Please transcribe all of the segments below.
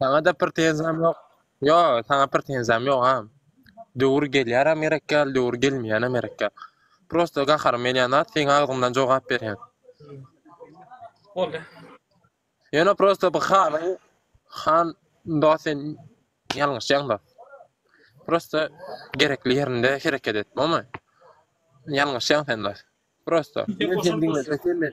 Saňa-da prtenzýam ýok. Ýo, saňa prtenzýam ýogam. Döwür gelýärem gerek ýaly, döwür gelmeýänem gerek ýaly. Prosta gaharym gelýän zat seň agzyňdan jogap berýän. Boldy. Ýöne prosta bu hanyň han dos sen ýalňyşýaň dos. Prosta gerekli ýerinde hereket et, bolmy? Ýalňyşýaň sen dos. Prosta. Sen diňle, sen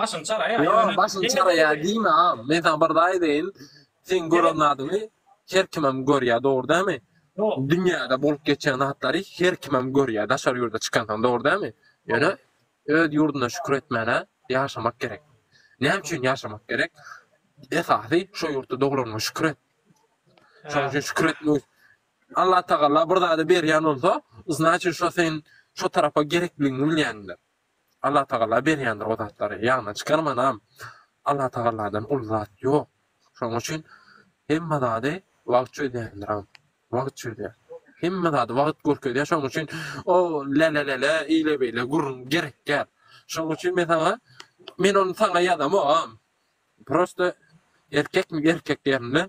Başyň çaraýar ýöne. Ýok, başyň çaraýar diýme a. Men saňa bir zat aýdaýyn, seň gören zadyňy her kimem görýär, dogry dälmi? Dünýäde bolup geçýän zatlary her kimem görýär, daşary ýurda çykansoň, dogry dälmi? Ýöne öz ýurduna şükür etmäne ýaşamak gerek. Näme üçin ýaşamak gerek? Esasy şu ýurtda doglanyňa şükür et. Şonuň üçin şükür etmek. Allatagala bir zady berýän bolsa, znaçit şo seň şo tarapa gerekligiňi bilýändir. Allatagala berýändir o zatlary, ýaňyna çykarmanam, Allatagaladan uly zat ýok. Şonuň üçin hemme zady wagt çözýändiram. Wagt çözýär. Hemme zady wagt görkezýär. Şonuň üçin o lälälälä, eýle-beýle gürrüň gerekýär. Şonuň üçin men saňa, men ony saňa ýazamogam. Prosta erkekmi erkek ýerinde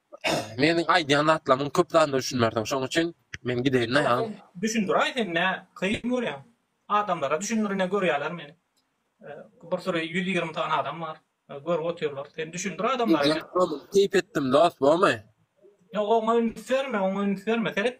Meniň aýdýan zatlarymyň köp zadyna düşünmersiň, şoň üçin men gideýin daýan. Düşündiraý sen nä kyn görýäň? Adamlara düşündir ine görýäler meni. Bir süri ýüz ýigrimi sany adam bar. Görüp otyrlar. Sen düşündir adamlara. Ýok dost, keýp etdim dost, bormy? Ýok oňa üns berme, oňa üns berme. Seret,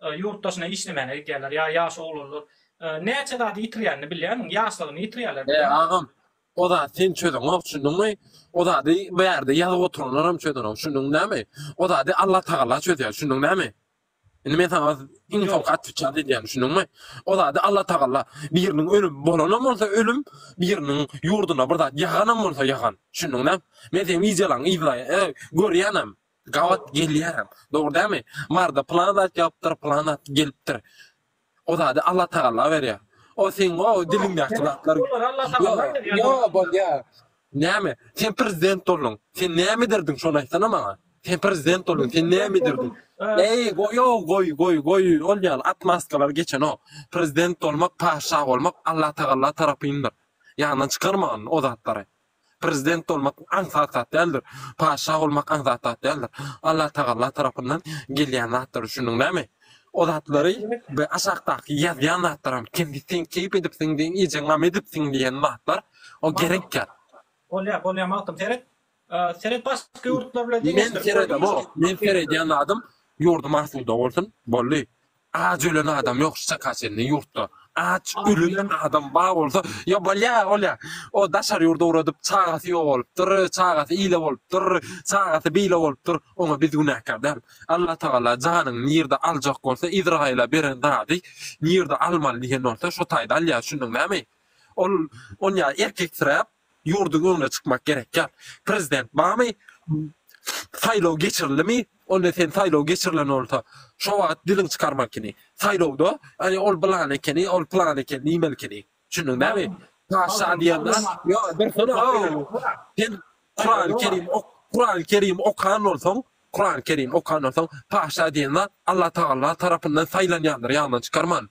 Ýurt daşyna işlemäne gidýärler, ýa ýaş oglanlar. Näçe zady ýitirýänini bilýärmiň? Ýaşlygyny ýitirýärler. He, agam, o zady sen çözeňok, şunduňmy? O zady bu ýerde ýazyp oturanlaram çözenok, şunduň näme? O zady Allatagala çözýär, şunduň näme? Indi men saňa iň soňky otwitçat edýän, şunduňmy? O zady Allatagala biriniň ölümi bolanam bolsa ölüm, biriniň ýurduna bir zat ýaganam bolsa ýagan, şunduň näme? Men seň wideolaňy yzlaýan, görýänem. Gabat gelýärem. Dogry dämi? Marda pylan zat ýapypdyr, pylan zat gelipdir. O zady Allatagalla berýär. O seň o diliňdäki zatlar. Ýo, bolýar. Näme? Sen prezident bolduň. Sen näme ederdiň şony aýtsana maňa? Sen prezident bolduň, sen näme ederdiň? Eý, goýo, goý, goý, goý. Ol ýaly atmaskalary geçenok. Prezident bolmak, patyşa bolmak Allatagalla tarapyndyr. Ýaňdan çykarma o zatlary. Prezident bolmak aňsat zat däldir. Patyşa bolmak aňsat zat däldir. Allatagalla tarapyndan gelýän zatdyr, düşündiň näme? O zatlary bu aşakdaky ýazýan zatlaram kemsi sen keýp edipsiň diýen iýjek gam edipsiň diýen zatlar o gerek ýat. Bolýar, bolýar Magtym seret. Seret başga ýurtlar bilen deňeşdir. Men seredemok. Men seredýän zadym ýurdum asuda bolsun. Boldy. Ac ölen adam yok şu çaka çenli yurtda ac ölülen adam bar bolsa ya bolya bolya o daşary yurda ugradyp çagasy yok bolupdyr çagasy ile bolupdyr çagasy bile bolupdyr ona biz günäkär dal Allah tagala janyny nirde aljak bolsa izraila beren zady nirde almaly diyen bolsa şo tayda alya düşündiň nami ol onyaý erkeksirap ýurduň öňüne çykmak gerekýär. Prezident barmy? Saýlaw geçirilimi? Onda sen saýlaw geçirilen bolsa, şo wagt diliň çykarmalkyny. Saýlawda, Aý, ol bylany ekeni, ol pylany ekeni diýmelkini. Düşündiň näme? Paşşa diýen zat, ýo, dursana-ow! Sen Kurany Kerim ok, Kurany Kerim okan bolsaň, Kurany Kerim okan bolsaň, paşşa diýen zat Allatagala tarapyndan saýlanýandyr ýaňdan çykarman.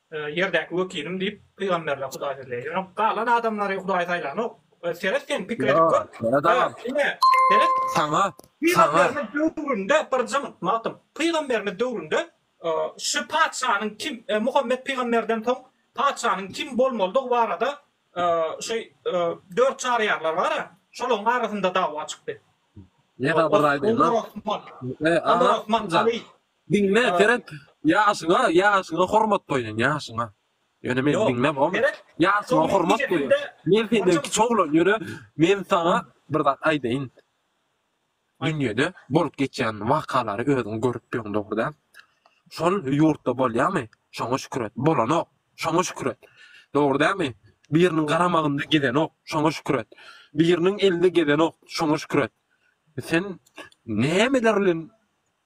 Ýerdäki wekilim diýip, pygamberler Hudaý sözleýär. Ýöne galan adamlary Hudaý saýlanok. Seret sen, pikir edip gör. Seret agam. Ine, seret. Saňa, saňa. Pygamberimiz döwründe bir jyňyt, Magtym, pygamberimiz döwründe şu patyşanyň kim, Muhammet pygamberden soň patyşanyň kim bolmalydygy barada şu dört çaryýarlar bar-a, şolaryň arasynda dawa çykdy. Onda Osman, onda Osman, Ali, Diňle Seret ýaşyňa ýaşyňa hormat goýun ýaşyňa. Ýöne men diňle bom. Ýaşyňa hormat goýun. Men senden kiçi oglan ýöne men saňa bir zat aýdaýyn. Dünýede bolup geçýän wakalary özüň görüp ýöň dogry däl. Şol ýurtda bolýamy? Şoňa şükür et. Bolanok. Şoňa şükür et. Dogry dälmi? Biriniň garamagynda gezenok. Şoňa şükür et. Biriniň elinde gezenok. Şoňa şükür et. Sen nämeler bilen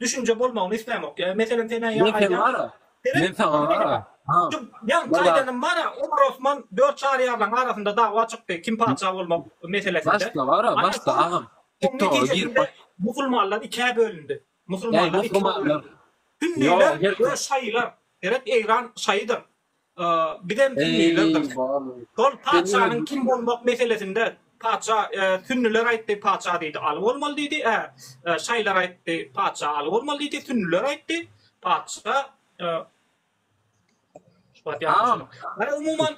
Düşünje bolmagyny islämok. Meselem senä ýa aýdýan. Men sen bara. Men saňa bara. Ha. Ýa gaýdanym bara. Omar Osman dört çaryýarlaň arasynda dawa çykdy. Kim patyşa bolmak meselesinde. Başda bara. Başda agam. Tiktoga girip baş. Musulmanlar ikä bölündi. Musulmanlar ikä bölündi. Sünniler we şaýylar. Seret Eýran şaýydyr. Bizem sünnilerdir. Şol patyşanyň kim bolmak meselesinde patyşa sünniler aýtdy, patyşa diýdi, Aly bolmaly diýdi. Şaýylar aýtdy, patyşa Aly bolmaly diýdi, sünniler aýtdy, patyşa Umuman,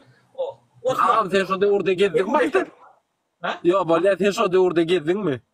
Osman. Sen şo döwürde gezdiňmi? Ýok, bolýar, sen şo döwürde gezdiňmi?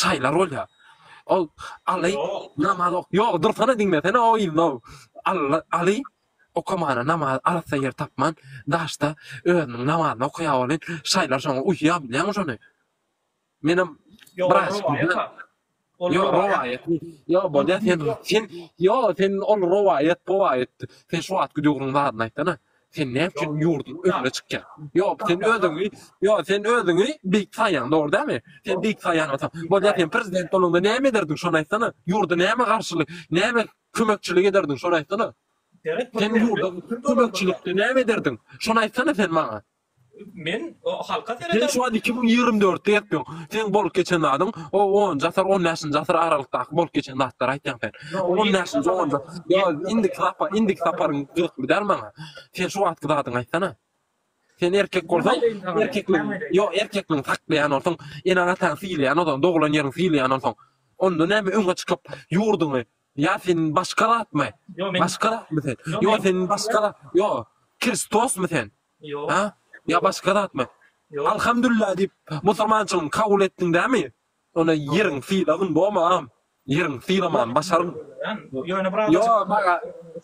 Şaýlar bolýa. Ol Aly namaz ok. Ýok, dursana diňlesene o yznow. Alla Aly okamana namaz arassa ýer tapman daşda özüniň namazyny okaýa welin şaýlar şoňa uýýa bilýäňmi şony. Menem bir aşyk bolýa. Ýok rowaýat. Ýok bolýa sen sen ýok sen ol rowaýat powaýat sen şu wagt gidýogryň zadyny aýtsana. Sen näme üçin ýurduň öňüne çykýaň? Ýok, sen özüňi, ýok, sen özüňi beýik saýýaň, dogry dälmi? Sen beýik saýýan bolsaň, bolýa sen prezident bolanda näme ederdiň, şony aýtsana? Ýurda näme garşylyk, näme kömekçilik ederdiň, şony aýtsana? Sen ýurda kömekçilikde näme ederdiň, şony aýtsana sen maňa? Men halka serederin. Sen şu wagt iki müň ýigrimi dörtde ýatyrsyň. Seň bolup geçen zadyň, o onunjy asyr, on bäşinji asyr aralykdaky bolup geçen zatlary aýtýaň sen. On bäşinji, onunjy asyr. Ýa indiki sapar, indiki saparyň gyzykly däl maňa. Sen şu wagtky zadyňy aýtsana. Sen erkek bolsaň, erkekligiňi, ýok, erkekligiňi saklaýan bolsaň, eneň-ataňy sylaýan bolsaň, doglan ýeriňi sylaýan bolsaň, onda näme öňe çykyp, ýurduňy, ýa sen başga zatmy? Başga zatmy sen? Ýa sen başga zat, ýa Kristosmy sen? Ýok. Hä? Ýa başga zatmy? Ýok. Alhamdulillah diýip, musurmançylygyňy kabul etdiň dämi? Onda ýeriň sylagyn boma agam. Ýeriň sylaman başaryn. Ýöne bir Ýo azajyk maga.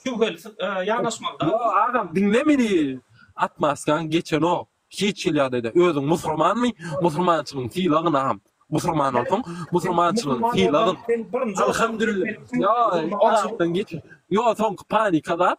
şübheli sy- e, ýanaşmaly da. Ýo agam diňle meni. Atmaskaň geçenok. Hiç hili ýagdaýda. Özüň musurmanmy? Musurmançylygyň sylagyn agam. Musurman bolsaň, musurmançylygyň Musulman sylagyn. bolsaň, sen birinji Alhamdulillah. Ýo o zatdan geçen. Ýo soňky panika zat.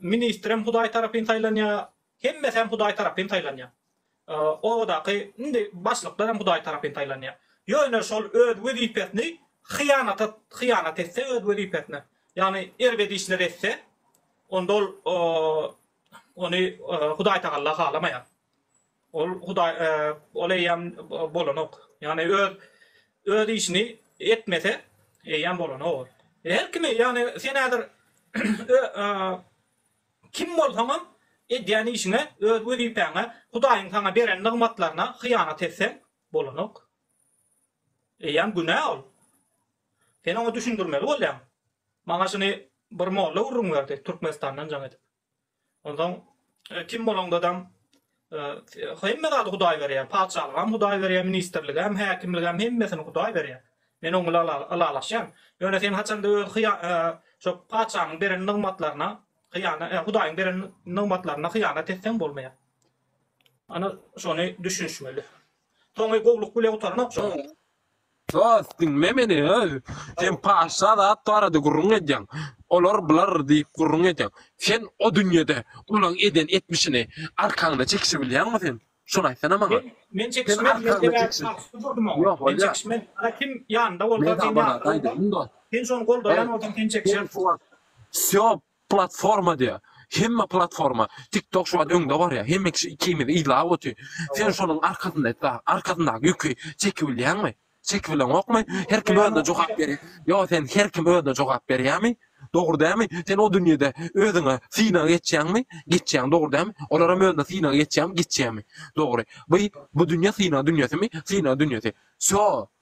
Ministrem Hudaý tarapyn saýlanýar, hemmesem Hudaý tarapyn saýlanýar. Obadaky indi başlyklaram Hudaý tarapyn saýlanýar. Ýöne şol öz wezipesini hyýanata hyýanat etse öz wezipesine, ýagny erbet işler etse, onda ol ony Hudaýtagalla halamaýar. Ol Hudaý, ol eýýäm bolanok. Ýagny öz, öz işini etmese, eýýäm bolanok ol. Her kimi, ýagny sen häzir kim bolsaňam, edýän işiňe, öz wezipäňe, Hudaýyň saňa beren nygmatlaryna hyýanat etseň, bolanok. Eýýäm günä ol. Sen oňa düşündirmeli bolýaň. Maňa şuny bir molla gürrüň berdi, Türkmenistandan jaň edip. Onsoň kim bolaňdadam hemme zady Hudaý berýär, patyşalygam Hudaý berýär, ministrligem, häkimligem hemmesini Hudaý berýär. Men oň bilen ylalaşýan. Ýöne sen haçanda öz şo patyşanyň beren nygmatlaryna hyýanat, Hudaýyň beren nygmatlaryna hyýanat etseň bolmaýar. Ana şony düşünişmeli. Soňy gowluk bile gutaranok şo. Dost, diňle meni, öl! Sen paşşa zat barada gürrüň edýäň. Olar bular diýip gürrüň edýäň. Sen o dünýede olaň eden etmişini arkaňda çekişebilýäňmi sen? Şony aýtsana maňa. Men çekişmez, men sebäbi şahsy durdum oňa. Ýok, bolýar. Men çekişmez. Ana kim ýanynda bolsa, sen ýanynda bolsaň, sen şony goldaýan bolsaň, sen çekişersiň. Wsýo, Platforma diýä. Hemme platforma. Tiktok şu wagt öňde barýa. Hemme kişi ikimizi yzlap otyr. Sen şonuň arkasynda etdä. Arkasyndaky ýüki çekibilýäňmi? Çekibileňokmy? Her kim özüne jogap berýä. Ýo sen her kim özüne jogap berýämi? Dogry dälmi? Sen o dünýede özüňe synag geçýäňmi? Geçýäň dogry dälmi? Olaram özüne synag geçýämi? Geçýämi? Dogry. By bu dünýe synag dünýesimi? Synag dünýesi. Sýo!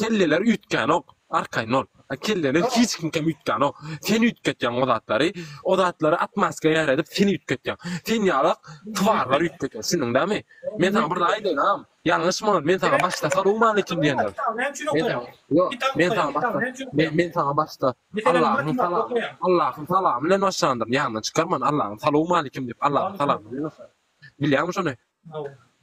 Kelleler üýtgänok, arkaýyn bol. A kelleler hiç kimkem üýtgänok. Sen üýtgetýäň o zatlary. O zatlary atmaska ýaredip sen üýtgetýäň. Sen ýalak twarlar üýtgetýär. Şundyň dämi? Men saňa bir zat aýdaýyn agam. Ýalňyşma ol. Men saňa başda salyň many kim diýendir. Men saňa Ýok. Men saňa başda Men men saňa başda Allahyň salamy Allahyň salamy bilen başlandyryn. Ýadyňdan çykarman Allahyň salyň many kim diýip Allahyň salamy bilen başlandyryn. Bilýäňmi şony?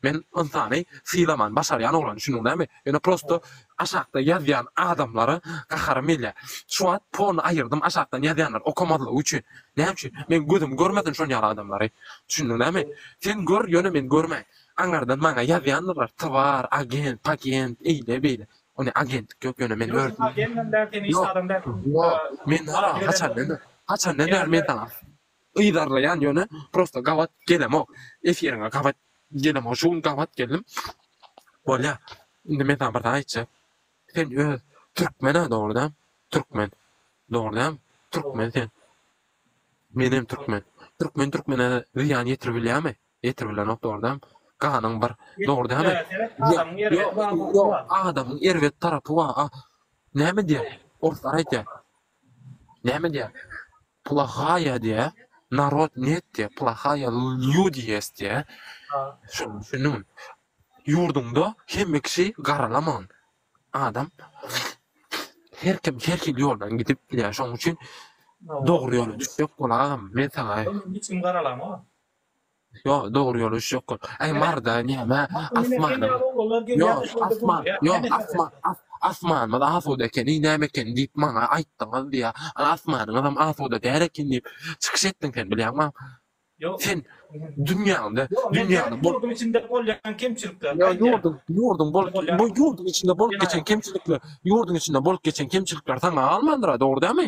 Men ynsany sylaman başarýan oglan düşündiň näme ýöne prosto aşakda ýazýan adamlara gaharym gelýär şu wagt pony aýyrdym aşakdan ýazýanlar okamazlygy üçin näme üçin meň gözüm görmesin şon ýaly adamlary düşündiň näme sen gör ýöne men görmäýin aňardan maňa ýazýandyrlar twar agent pagent eýle beýle ony agentlik ýok ýöne men ýok ýok men haçandan bäri haçandan bäri men saňa Yzarlaýan ýöne prosta gabat gelemok efiriňe gabat gelemok şu gün gabat geldim bolýa indi men saňa bir zat aýtjak sen öz türkmena dogrudan türkmen dogrudan türkmen sen menem türkmen türkmen türkmene zyýan ýetirip bilýärmi ýetirip bilenok dogrudan ganyň bir dogrudanmy adamyň erbet tarapy bar näme diýýär orslar aýtýar näme diýýär Plahaýa diýä, narod net diýä, plahaýa lýudi ýest diýä. Şony düşündiňmi? Ýurduňda hemme kişi garalaman. Adam her kim her hili ýoldan gidip bilýär. Şonuň üçin dogry ýola düşjek bol agam. Men saňa. Ol indi hiç kim garalama. Ýo dogry ýol iş ýok kol. Äý marda näme asmanyň Ýo asman ýo asman as asmanymyz asuda ekeni näme ekeni diýip maňa aýtdyňyz diýýä ol asmanyňyzam asuda däl eken diýip çykyş etdiň sen bilýäňmi sen dünýäňde dünýäňde bol Ýurduň içinde bolýan kemçilikler Ýo aýdýa. ýurduň ýurduň bolup Bolýan. bu ýurduň içinde bolup geçen kemçilikler ýurduň içinde bolup geçen kemçilikler saňa galmandyra dogry dälmi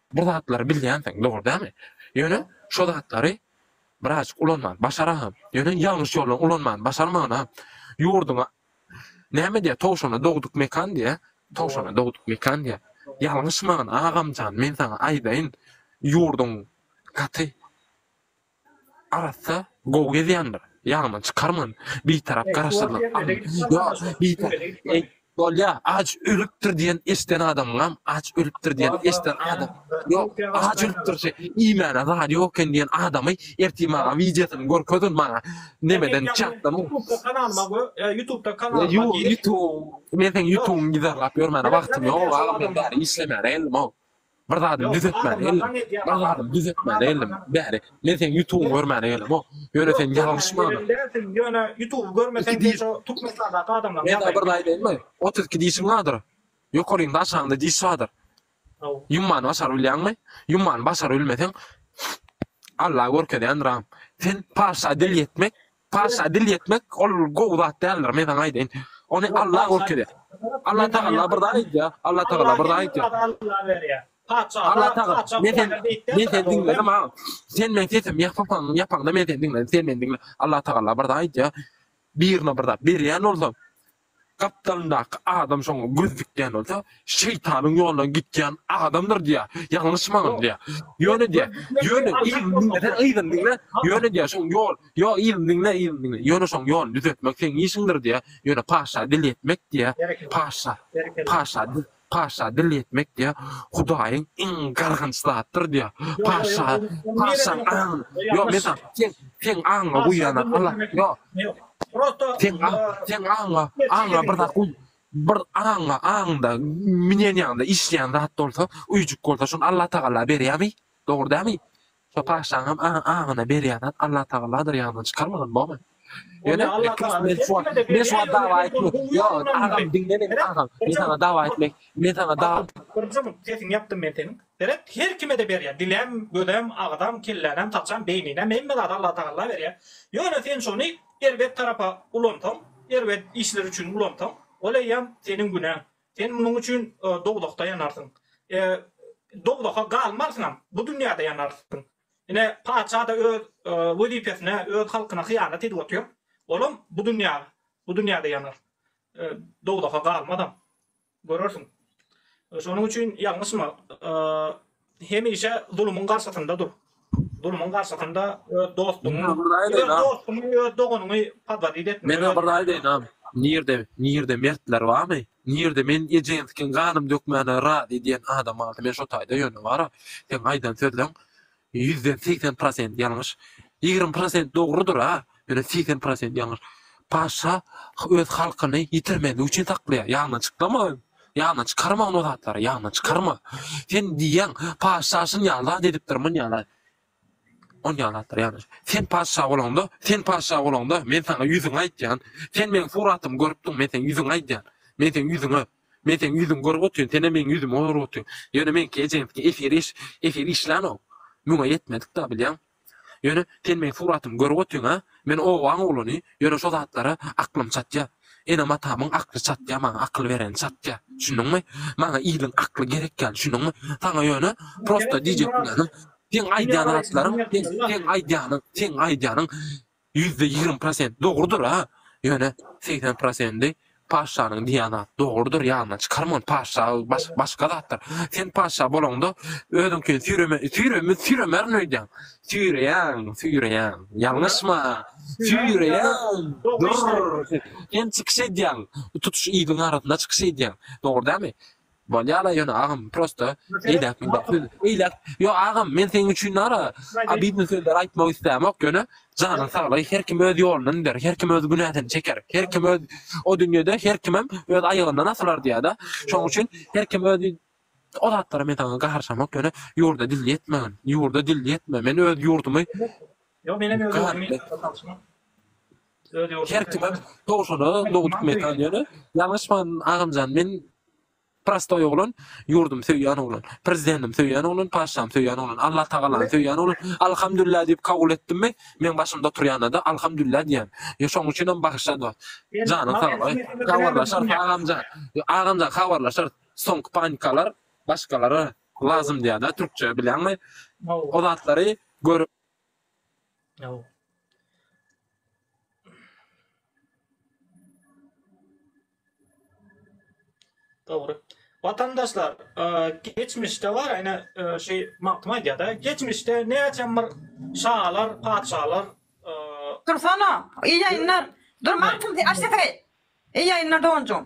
Bu zatlary bilýänsiň, dogry dälmi? Ýöne şo zatlary birazjyk ulanman başaranam. Ýöne ýalňyş ýoldan ulanman başarmanam. Ýurduňa näme diýýär, towşana dogduk mekan diýýär. Towşana dogduk mekan diýýär. Ýalňyşman, agamjan, men saňa aýdaýyn, ýurduň gaty. Arassa gowy gezýändir. Ýaňyma çykarman. Bitarap garaşsyzlyk. Ýa bitar. Eý, bolýa, aç ölüpdir diýen eşden adamyňam aç ölüpdir diýen eşden adam. Ýok, aç ölüpdir şe, iýmäne zady ýok eken diýen adamy ertir maňa wideosyny görkezin maňa nemeden çatdan. Ýutubda kanal bar go, ýutubda kanal bar. Ýutub, men seň ýutubyňy gizarlap ýörmäne wagtym ýok agam men bäri işlemäne geldim-ow. Bir zadymy düzetmäne geldim. Bir zadymy düzetmäne geldim. Bäri, men seň ýutubyňy görmäne gelemok. Ýöne sen ýalňyş many. Ýöne ýutuby görmeseň de şo Türkmenistandaky adamlaryň ýagdaýyny. Men bir zat aýdaýynmy? Otuz iki dişiň bardyr. Ýokarynda aşagyňda diş bardyr. Ýummany başaryp bilýäňmi? Ýummany başaryp bilmeseň Alla görkezýändir agam. Sen parsça dil ýetmek Patyşa dil ýetmek ol gowy zat däldir, men saňa aýdaýyn. Ony Alla görkez et. Alla tagalla bir zat aýdýar. Alla tagalla bir zat aýdýar. Alla tagalla men seni men seni diňledim ha. Sen meň sesimi ýapypaň, ýapaňda men seni diňledim. Sen meni diňle. Alla tagalla bir zat aýdýar. Birine bir zat berýän bolsaň, Gapdalyndaky adam şoňa göz dikýän bolsa, şeýtanyň ýolundan gitýän adamdyr diýýär. Ýalňyşmagyň diýýär. Ýöne diýýär, ýöne yzyny diňle, sen yzyny diňle, ýöne diýýär, şoň ýol, ýok, yzyny diňle, yzyny diňle, ýöne şoň ýoluny düzetmek seň işiňdir diýýär. Ýöne patyşa dil ýetmek diýýär, patyşa, patyşa dil, Paşa dil ýetmek diýýär, Hudaýyň iň gargynç zadydyr diýýär. Paşa, paşaň aňyny, ýok, men saňa, seň, seň aňyňa guýýan-a, ala, ýok, seň aň, seň aňyňa, aňyňa bir zat guý, bir aňyňa, aňyňda, minen ýaňda işleýän zat bolsa, öýjük bolsa, şony Allatagala berýärmi? Dogry dälmi? Şo paşşaňam aňyna berýän zat Allatagaladyr ýadyňdan çykarmagyn momen. Ýöne men şu wagt men şu wagt dawa etmek ýok agam diňle meni agam men saňa dawa etmek men saňa dawa. Birinji mugt sesiňi ýapdym men seniň. Seret her kimede berýär dilem gözem agzam kellänäm saçam beýninem hemme zady Allatagalla berýär ýöne sen şony erbet tarapa ulansaň erbet işler üçin ulansaň ol eýýäm seniň günäň Sen munuň üçin dowzahda ýanarsyň. E, dowzaha galmarsyňam, bu dünýäde ýanarsyň. Ine, patyşa-da öz e, wezipesine, öz halkyna hyýanat edip otyr. Olam bu dünýä, bu dünýäde ýanar. E, dowzaha galmazam. Görersiň. E, şonuň üçin ýalňyşma. E, Hemişe zulumyň garşysynda dur. Zulumyň garşysynda öz dostuňy, öz dostuňy, öz doganyňy pazaryt etme. Men bir raý aýdaýynam. Nirde, nirde mertler barmy? Nirde men Ejenskiň ganym dökmäne razy diýen adam barmy? Men şo taýda ýöne bar-a. Seň aýdan sözleň ýüzden segsen prosent ýalňyş. Ýigrimi prosent dogrudyr-a. Ýöne segsen prosent ýalňyş. Paşa öz halkyny ýitirmezlik üçin saklaýar. Ýaňdan çyklama. Ýaňdan çykarma ony zatlary. Ýaňdan çykarma. Sen diýýäň, paşa şun ýalda edipdir, mun ýalda. On ýaldadyr ýaňdan. Sen paşa bolanda, sen paşa bolanda men saňa ýüzüňi aýtýan. Sen meň suratymy görüpdiň, men seň ýüzüňi aýdýan. Men seň ýüzüňe Men seň ýüzüňi görüp otyryn, sen hem meň ýüzümi görüp otyryn. Ýöne meňki ejeňki efir iş, efir işlänok. Müňe ýetmedik-de, bilýäň. Ýöne sen meň suratymy görüp otyň-a? Men obaň oglany, ýöne şo zatlara aklym çatýa. Enem-atamyň akly çatýa, maňa akyl bereni çatýa. Düşündiňmi? Maňa iliň akly gerek ýaly, düşündiňmi? Saňa ýöne prosta diýjek bilenim, seň aýdýan zatlaryň, seň, seň aýdýanyň, seň aýdýanyň Ýüzde ýigrimi prosent dogrudyr a ýöne segsen prosendi paşşanyň diýýän zat dogrudyr ýanyna çykarma ony paşşa başga zatdyr sen paşşa bolaňda özüňkini süýreme süýreme süýremerin öýdýäň süýreýäň süýreýäň ýalňyşma süýreýäň durr sen çykyş edýäň tutuş iliň arasynda çykyş edýäň dogry dälmi Bolýala ýöne agam prosta eýläk men bir söz eýläk ýok agam men seň üçin nara abidno sözler aýtmak islämok ýöne janyň saglygy her kim öz ýolundan gider her kim öz günäsini çeker her kim öz o dünýede her kimem öz aýagyndan asylar diýädä şoň üçin her kim öz o zatlara men saňa garyşamok ýöne ýurda dil ýetmegin ýurda dil ýetme men öz ýurdumy Ýok menem öz ýurdum ýetmez garyşma. Her kime towşana nohut metal ýöne ýalňyşman agamjan men prostoý oglan ýurdum söýýän oglan prezidendim söýýän oglan paşşam söýýän oglan Allah tagalany söýýän oglan alhamdulillah diýip kabul etdimmi meň başymda oturýanada alhamdulillah diýýän ýa şoň üçinem bagyşla dost janyň sag bol habarlaşarys agamjan agamjan habarlaşarys soňky panikalar başgalara lazym diýada türkçe bilýäňmi o zatlary görüp Ýaw. Dogry. Watandaşlar, geçmişde bar, ene şu magtym aýdýar-da, geçmişde näçem bir şalar, patyşalar, Dursana, iyi ýaýynlar. Dur magtym, aç sesiňi. Iyi ýaýynlar doganjygym.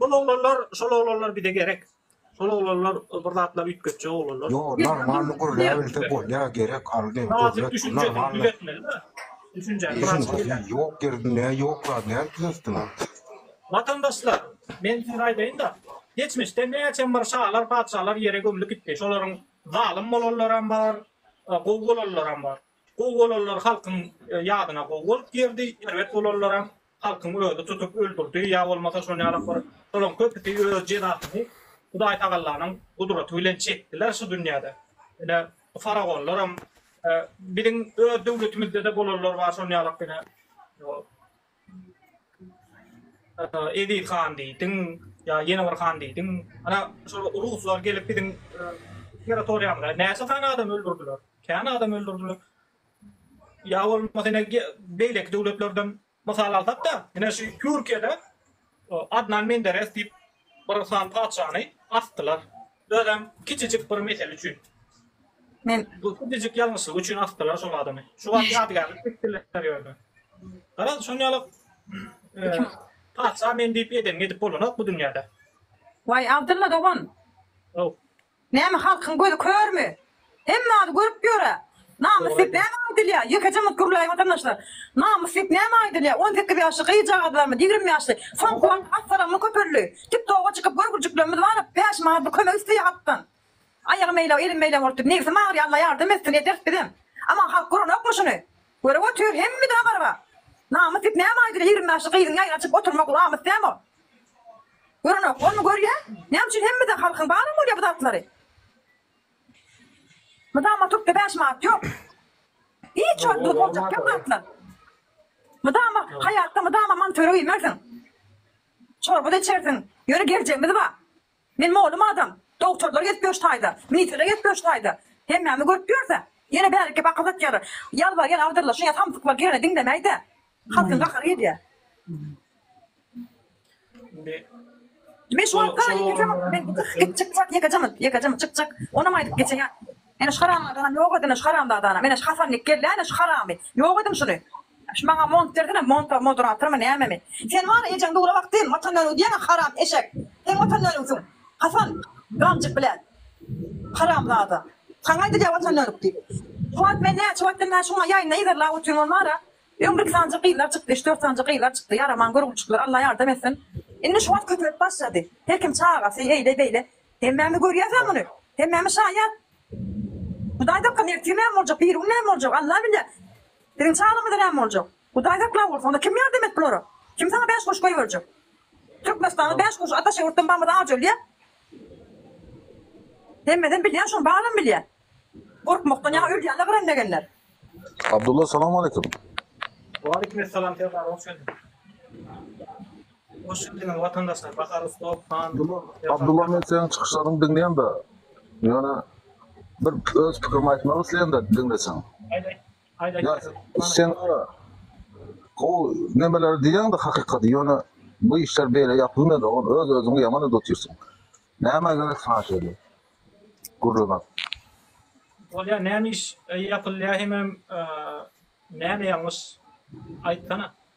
Bul oglanlar, şol oglanlar bize gerek. Şol oglanlar bir zatlar üýtgetjek oglanlar. Ýok, normalny gürläbilse bolýar, gerek aldy. Näzik düşünje düzetmeli mi? Düşünje. Ýok ýerinde, ýok zat näme düzetdiňiz? Watandaşlar, men size aýdaýyn-da, geçmişde näçem bir şalar, patyşalar ýere gömlüp gitdi. Şolaryň zalym bolanlaram bar, gowy bolanlaram bar. Gowy bolanlar halkyň ýadyna gowy bolup girdi, erbet bolanlaram halkyň özi tutup öldürdi ýa bolmasa şol ýalak bir şolaň köpüsi öz jezasyny Hudaý Tagallanyň gudraty bilen çekdiler şu dünýäde. Ine bu faragonlaram biziň öz döwletimizde-de bolanlar bar şol ýalak ine Eziz han diýdiň, ýa ýene bir han diýdiň. Ana, şol ruslar gelip biziň territoriýamyza näçe sany adam öldürdiler? Kän adam öldürdiler. Ýa bolmasa ine beýleki döwletlerden mysal alsak-da, ine şu Türkiýede Adnan Menderes diýip bir han patyşany asdylar. Özem kiçijik bir mesele üçin. Men bu kiçijik ýalňyşlyk üçin asdylar şol adamy. Şu wagt ýadygärlik etdiler ýörde. Garaz şon ýaly patyşa men diýip edenini edip bolanok bu dünýäde. Waý Abdylla dogan. How. Näme halkyň gözi körmi? Hemme zady görüp ýörä. Namys diýip näme aýdylýar? Ýekeje mugt gürläýiň watandaşlar. Namys diýip näme aýdylýar? On sekiz ýaşly gyzjagazlarymyz, ýigrimi ýaşly. Soňky wagt assalaňly köpeldi. Tik toga çykyp görgürjiklerimiz baryp bäş manat bir kömek isleýär halkdan. Aýagym meýlew, elim meýlew bolup dur. Nebsim agyrýar Alla ýardam etsin ederis bizem. Aman halk görenokmy şuny? Görüp otyr hemme dagy garga. Namys dip näme aýdyr ýigrimi ýaşly gyzyň ýaýy açyp oturmak lamys dämi ol. Görenok bolmy görýä näme üçin hemme dagy halkyň baram bolýa bu zatlary. Mydam oturtda bäş manat ýok. Hiç wagt bu boljak kem zatlar. Mydama haýatda mydama mantöre iýmersiň. Çorba da içersiň. Ýöne geljegimiz bar. Men molum adam. Dogtorlar gezip ýör taýda. Ministrler gezip ýör taýda. Hemmämi görüp ýörse. Ýene bärik gep akyl satýarlar. Ýalbarýan agdyrylşyn ýa samsyklar girene diňlemäýdä. Halkyň gahary gelýä. Indi. Men şu wagtda ýekejemok. Men gitjek çykjak ýekejemok. Ýekejemok çykjak. Onam aýdyp geçeýän. Ene şu haramzadanam ýok edin şu haramzadany. Ene şu Hasan nik gelýä ene şu haramy. Ýok ediň şuny. Şu maňa mont bersene monta moderatormy nämemi. Sen wara ejeň dura wagty watan öni diýeňä haram eşek. Seň watan önüňsiň. Hasan gamjyk bilen. Haramzada. Saňa aýdylýa watan önük diýip. Kuwat men näçe wagtdan bäri şuňa ýaýyny yzarlap otyryn ol wara öň bir iki sanja gyzlar çykdy üç dört sanja gyzlar çykdy ýaraman görgüçlikler Alla ýardam etsin indi şu wagt köpelip başlady her kim çagasy eýle beýle hemmämi görýäsä muny hemmämi şaýat Hudaý dakyn ertir näme boljak biri gün näme boljak Alla bilýä. Biziň çaglarymyza näme boljak? Hudaý saklap goýsun, onda kim ýardam et bulara? Kim saňa bäş guruş goýberjek? Türkmenistanda bäş guruş ataşa ýurtdan bamyza ajy ölýä. Hemmesem bilýä şony balam bilýä. Gorkmakdan ýaňa ölýänler gyran legenler. Abdulla salam aleýkum. Waleýkim essalam Serdar hoş geldiň. Goşgy diňe watandaşlar Bahar Ustow han Abdulla men seniň çykyşlaryňy diňleýämda ýöne bir öz pikirimi aýtmak isleýämda diňleseň. Aýt aýt. Aýt aýt. Ýa sen gara gowy nemeleri diýýäňda hakykaty ýöne bu işler beýle ýapylmaýar dogan öz özüňi ýaman edip otyrsyň. Nämä gerek saňa şeýle gürlemek. Bolýa näme iş ýapylýa hemem näme ýalňyş aýtsana.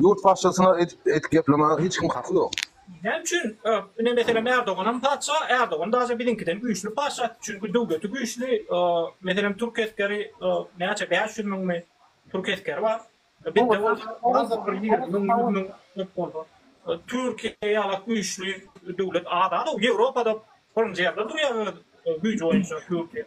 Ýurt patyşasyna edip edip geplemäge hiç kim haky ýok. Näme üçin ine meselem Erdoganam patyşa Erdogan daže biziňkiden güýçli patyşa çünki döwleti güýçli meselem türk esgeri näçe bäş ýüz müňmi türk esgeri bar bizde bolsa barda bir ýigrimi müň ýüz müň köp bolsa türkiýe ýala güýçli döwlet az-a-da ýewropada birinji ýerde durýa öz güýji boýunça türkiýe.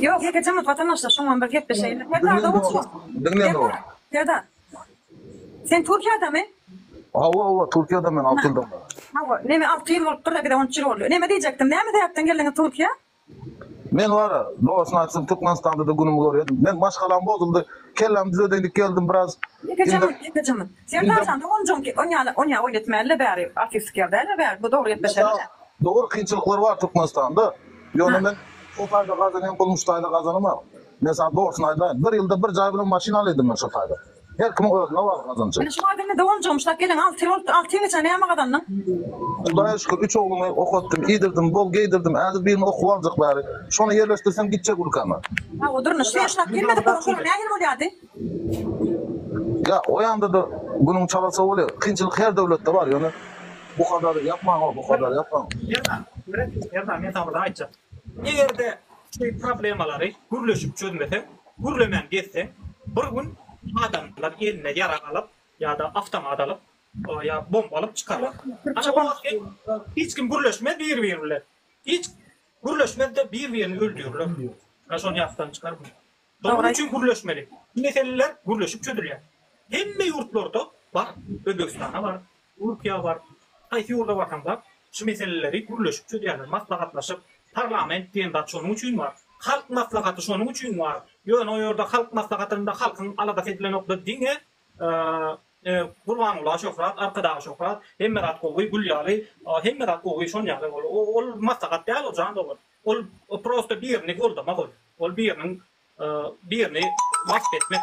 Ýok, ýeke jemgyýet watandaşlar şoňam bir gepleşeýin. Serdar Serdar. Serdar. Sen Türkiýedemi? Hawa, hawa, Türkiýede men alty ýyldan bäri. Hawa, neme alty ýyl bolupdyr-da, bize on üç ýyl boldy. Neme diýjekdim, näme sebäpden geldiňiz Türkiýä? Men wara, dogasyny aýtsam, Türkmenistanda-da günümi görýärdim. Men maşgalam bozuldy, kellämi düzedeýin diýip geldim, biraz. Ýeke jemgyýet, ýeke jemgyýet. Serdar jan, doganjygym, oň ýaly, oň ýaly oýun etmäli-le bäri, artistlik ýer däl-le bäri, bu dogry gepleşeli-le. Dogry, kynçylyklar bar Türkmenistanda. Ýöne men şo taýda gazanan pulumy şu taýda gazanamok. Men saňa dogrusyny aýdaýyn, bir ýylda bir jaý bilen maşyn alaýdym men şo taýda. Her kimiň özüne bagly gazanjy. Indi şu taýda indi doganjygym şu taýda gelen alty ýyl bolupdyr, alty ýylyň içinde näme gazandyň? Hudaýa şükür, üç oglumy okatdym, iýdirdim, bol geýdirdim. Häzir birini okuw aljak bäri. Şony ýerleşdirsem gitjek ülkäme. Hawa, durnuş serişlap gelmedi, gurşun nähili bolýardy? Ýa o ýanda-da günüň çala sowuly, kynçylyk her döwletde bar, ýöne bu kadary ýapmaň o, bu kadary ýapmaň. Merdan, Merdan men saňa bir zat aýtjak. Eger-de şu problemalary gürleşip çözmeseň, gürlemän gezseň, bir gün adamlar eline ýarag alyp ýa-da awtomat alyp, ýa bomba alyp çykarlar. Ana o wagt hem hiç kim gürleşmez bir-biri bilen. Hiç gürleşmez-de bir-birini öldürirler. Şony ýatdan çykarma. Dogry aýt. üçin gürleşmeli. Bu meseleler gürleşip çözülýär. Hemme ýurtlarda bar. Özbegistanda bar. Türkiýe bar. Haýsy ýurda barsaň bar. Şu meseleleri gürleşip çözýärler. Maslahatlaşyp. Parlament diýen zat şonuň üçin bar. Halk maslahaty şonuň üçin bar. Ýöne o ýerde halk maslahatynda halkyň aladasy edilenokda diňe Gurbanguly şöhrat, Arkadagy şöhrat, hemme zat gowy, gül ýaly, hemme zat gowy şon ýaly. Ol maslahat däl ol jan dogan. Ol ol prosta birini goldamak ol. Ol biriniň birini wasp etmek.